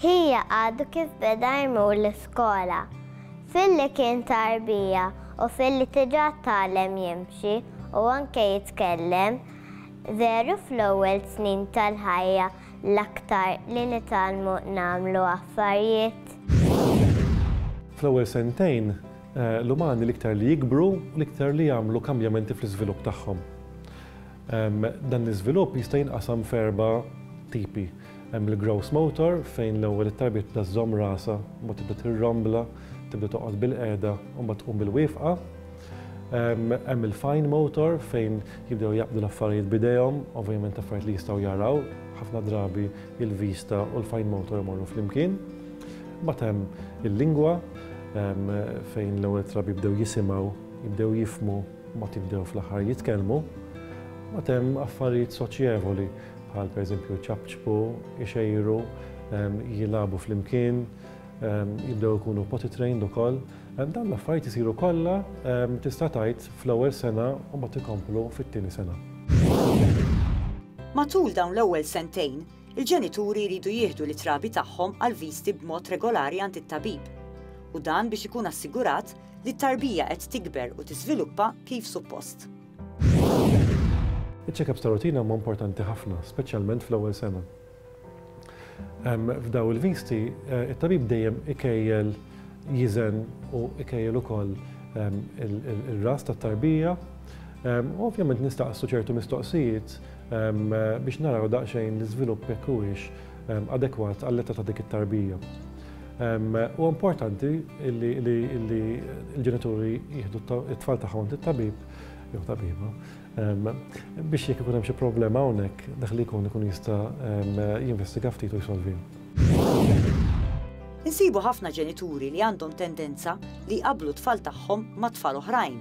Hija għadu kif beda jmur l-iskola. Filli kien ta' rbija u filli diġà tgħallem jimxi u anke jitkellem, veru fl-ewwel snin tal-ħajja l-aktar li nitgħallmu nagħmlu affarijiet. Fl-ewwel sentejn, l-umani l-iktar li jikbru, l-iktar li jagħmlu kambjamenti fl-iżvilupp tagħhom. Dan l-iżvilupp jista' jinqasam f'erba' tipi. Hemm il-gross motor fejn l-ewwel it-tarbiettna żżomm rasha, mbagħad tibda tirrombla, tibda toqgħod bilqiegħda u mbagħad tqum bilwieqfa. Hemm il-fine motor fejn jibdew jaqbdu l-affarijiet b'idejhom, ovvjament affarijiet li jistgħu jaraw, ħafna drabi il-vista u l-fine motor imorru flimkien. Mbagħad hemm il-lingwa fejn l-ewwel drabi jibdew jisimgħu, jibdew jifhmu, mbagħad jibdew fl-aħħar jitkellmu. Mbagħad hemm affarijiet soċjevoli bħal pereżempju jċapċpu, ixejru, jilagħbu flimkien, jibdew ikunu potty trained ukoll. Dawn l-affarijiet isiru kollha tista' tgħid fl-ewwel sena u mbagħad ikomplu fit-tieni sena. Matul dawn l-ewwel sentejn, il-ġenituri jridu jieħdu lit-trabi tagħhom għal viżti b'mod regolari għand it-tabib, u dan biex ikun assigurat li t-tarbija qed tikber u tiżviluppa kif suppost. Iċ-check-ups ta' rutina huma importanti ħafna, speċjalment fl-ewwel sena. F'daw il-visti, eh, it-tabib dejjem ikejjel jiżen u ikejjel ukoll il-ras tat-tarbija. Ovvjament nistaqsu ċertu mistoqsijiet biex naraw daqsxejn l-iżvilupp jekk huwiex adekwat għall-età ta' dik it-tarbija. Huwa importanti li l-ġenituri jieħdu t-tfal tagħhom tit-tabib jew tabiba biex jekk ikun hemm xi problema hawnhekk dak li jkun ikun jista' jinvestiga ftit u jsolvi. Insibu ħafna ġenituri li għandhom tendenza li jqabblu t-tfal tagħhom ma' tfal oħrajn.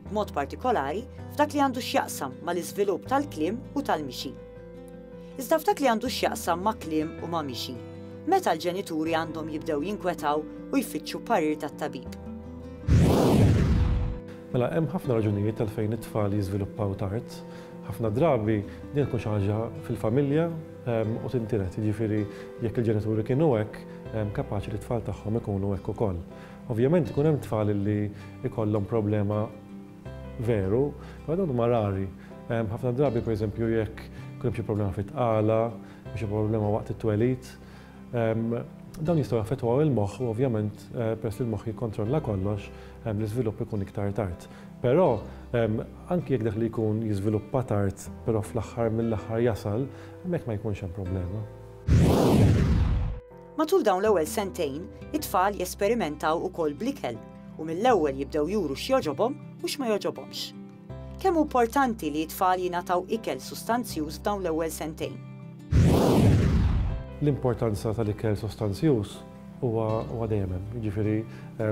b'mod partikolari f'dak li għandu x'jaqsam mal-iżvilupp tal-kliem u tal-mixi. Iżda f'dak li għandu x'jaqsam ma' kliem u ma' mixi, meta l-ġenituri għandhom jibdew jinkwetaw u jfittxu parir tat-tabib? Mela, hemm ħafna raġunijiet għalfejn it-tfal jiżviluppaw tard. Ħafna drabi din tkun xi ħaġa fil-familja u tintiret, jiġifieri jekk il-ġenituri kienu hekk, kapaċi li t-tfal tagħhom ikunu hekk ukoll. Ovvjament ikun hemm tfal li jkollhom problema veru, imma dawn huma rari. Ħafna drabi pereżempju jekk ikun hemm xi problema fit-tqala, xi problema waqt it-twelid, dawn jistgħu jaffettwaw il-moħħ u ovvjament peress li l-moħħ jikkontrolla kollox, l-iżvilupp ikun iktar tard. Però anki jekk dak li jkun jiżviluppa tard però fl-aħħar mill-aħħar jasal, hemmhekk ma jkunx hemm problema. Matul dawn l-ewwel sentejn, it-tfal jesperimentaw ukoll bl-ikel u mill-ewwel jibdew juru x'jogħġobhom u x'ma jogħġobhomx. Kemm hu importanti li t-tfal jingħataw ikel sustanzjuż f'dawn l-ewwel sentejn? L-importanza tal-ikel sostanzjuż huwa dejjem hemm. Jiġifieri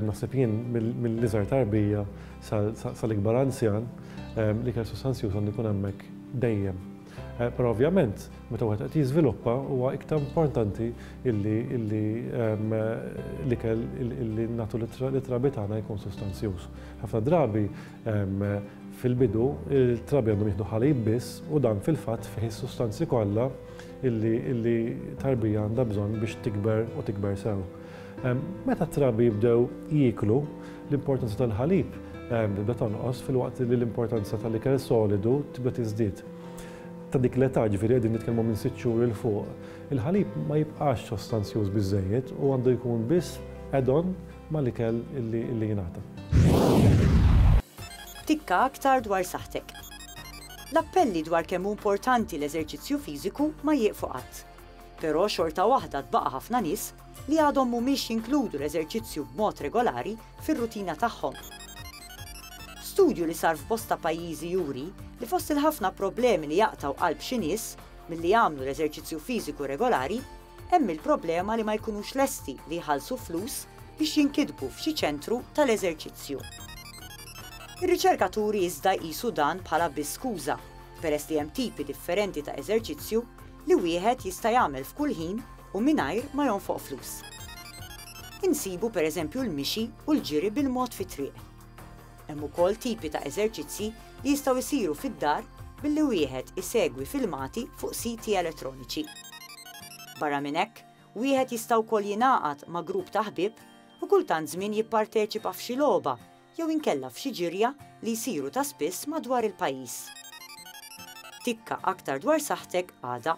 naħseb jien mill-iżgħar tarbija sal-ikbar anzjan, l-ikel sostanzjuż għandu jkun hemmhekk dejjem. Però ovvjament, meta wieħed qed jiżviluppa huwa iktar importanti illi illi ehm, l-ikel illi nagħtu lit-trabi tagħna jkun sustanzjuż. Ħafna drabi ehm, fil-bidu il-trabi għandhom jieħdu ħalib biss u dan fil-fatt fih is-sustanzi kollha illi tarbija għandha bżonn biex tikber u tikber sew. Meta t-trabi jibdew jieklu, l-importanza tal-ħalib tibda tonqos filwaqt li l-importanza tal-ikel solidu tibda tiżdied. Ta' dik l-età, ġifieri qegħdin nitkellmu minn sitt xhur 'il fuq, il-ħalib ma jibqax sostanzjuż biżżejjed u għandu jkun biss add-on mal-ikel li jingħata. Tikka aktar dwar saħħtek. L-appelli dwar kemm hu importanti l-eżerċizzju fiżiku ma jieqfu qatt. Però xorta waħda tbaqa' ħafna nies li għadhom mhumiex jinkludu l-eżerċizzju b'mod regolari fir-rutina tagħhom. Studju li sar f'bosta pajjiżi juri li fost il-ħafna problemi li jaqtgħu qalb xi nies milli jagħmlu l-eżerċizzju fiżiku regolari hemm il-problema li ma jkunux lesti li jħallsu flus biex jinkitbu f'xi ċentru tal-eżerċizzju. Ir-riċerka turi iżda jqisu dan bħala biss skuża, peress li hemm tipi differenti ta' eżerċizzju li wieħed jista' jagħmel f'kull ħin u mingħajr ma jonfoq flus. Insibu pereżempju l-mixi u l-ġiri bil-mod fit-triq. Hemm ukoll tipi ta' eżerċizzji li jistgħu jsiru fid-dar billi wieħed isegwi filmati fuq siti elettroniċi. Barra minn hekk, wieħed jista' wkoll jingħaqad ma' grupp ta' ħbieb u kultant żmien jipparteċipa f'xi logħba jew inkella f'xi ġirja li jsiru ta' spiss madwar il-pajjiż. Tikka aktar dwar saħħtek għada.